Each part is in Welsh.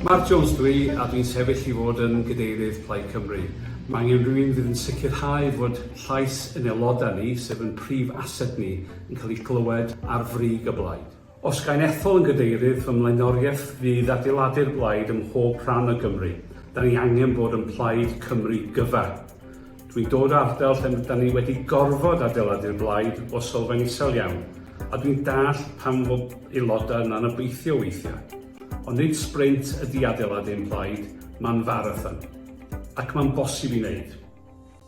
Mark Jones dw i a dwi'n sefyll i fod yn Gadeirydd Plaid Cymru. Mae angen rhywun fydd yn sicrhau fod llais yn aelodau ni, sef yn prif ased ni, yn cael ei glywed ar frig y blaid. Os ga i'n ethol yn Gadeirydd, fy mlaenoriaeth fydd adeiladu'r blaid ym mhob rhan o Gymru. Da ni angen bod yn Plaid Cymru gyfan. Dwi'n dod o ardal lle 'da ni wedi gorfod adeiladu'r blaid o sylfaen isel iawn, a dwi'n dallt pam fod aelodau yna'n obeithio weithiau. Ond nid sbrint ydy adeiladu ein plaid, mae'n farathon. Ac mae'n bosib i wneud.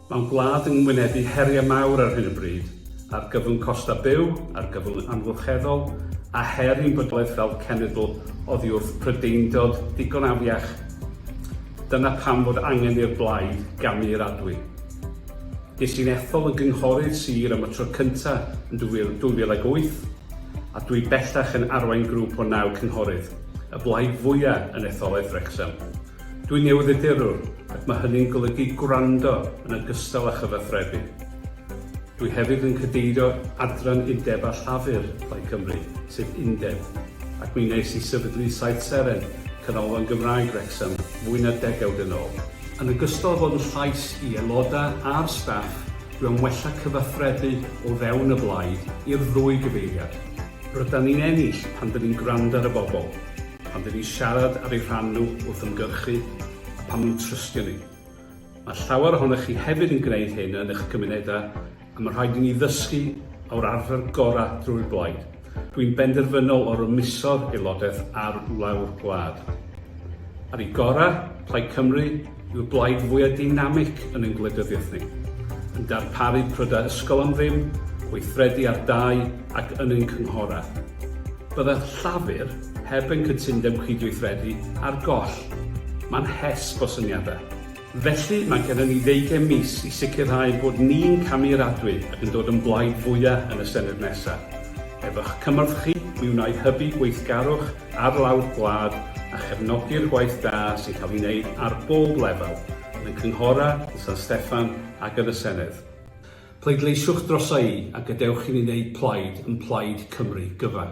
Mae'n gwlad yn wynebu heriau mawr ar hyn o bryd, argyfwng costau byw, argyfwng amgylcheddol, a her i'n bydolaeth fel cenedl oddi wrth Prydeindod ddigon afiach. Dyna pam fod angen i'r blaid gamu i'r adwy. Ges i'n ethol yn gynghorydd sir am y tro cynta yn 2008, a dwi bellach yn arwain grŵp o naw cynghorydd, y blaid fwya yn etholaeth Wrecsam. Dwi'n newyddiadurwr, ac mae hynny'n golygu gwrando yn ogystal â chyfathrebu. Dwi hefyd yn cadeirio Adran Undeb a Llafur Plaid Cymru, sef Undeb, ac mi wnes i sefydlu Saith Seren, Canolfan Gymraeg Wrecsam, fwy na degawd yn ôl. Yn ogystal â bod yn llais i aelodau a'r staff, dwi am wella cyfathrebu o fewn y blaid i'r ddwy gyfeiriad. Rydan ni'n ennill pan dyn ni'n gwrando ar y bobl, pan dyn ni'n siarad ar eu rhan nhw wrth ymgyrchu a pan nhw'n trystio ni. Mae llawer ohonoch chi hefyd yn gwneud hyn yn eich cymunedau a mae rhaid i ni ddysgu o'r arfer gorau drwy'r blaid. Dwi'n benderfynol o rymuso'r aelodaeth ar wlau'r gwlad. Ar ei gorau, Plaid Cymru yw'r blaid fwyaf deinamig yn ein gwleidyddiaeth ni, yn darparu prydau ysgol am ddim, gweithredu ar dai ac yn ein cynghorau. Byddai Llafur, Heb ein cytundeb cydweithredu ar goll, mae'n hesb o syniadau. Felly, mae gennym ni ddeugain mis i sicrhau bod ni'n camiaradwy ac yn dod yn blaid fwyaf yn y Senedd nesaf. Efo'ch cymorth chi, mi wna i hybu gweithgarwch ar lawr gwlad a chefnogi'r gwaith da sy'n cael ei wneud ar bob lefel, yn y cynghorau, yn San Steffan ac yn y Senedd. Pleidleisiwch drosa i a gadewch i ni wneud plaid yn Plaid Cymru gyfan.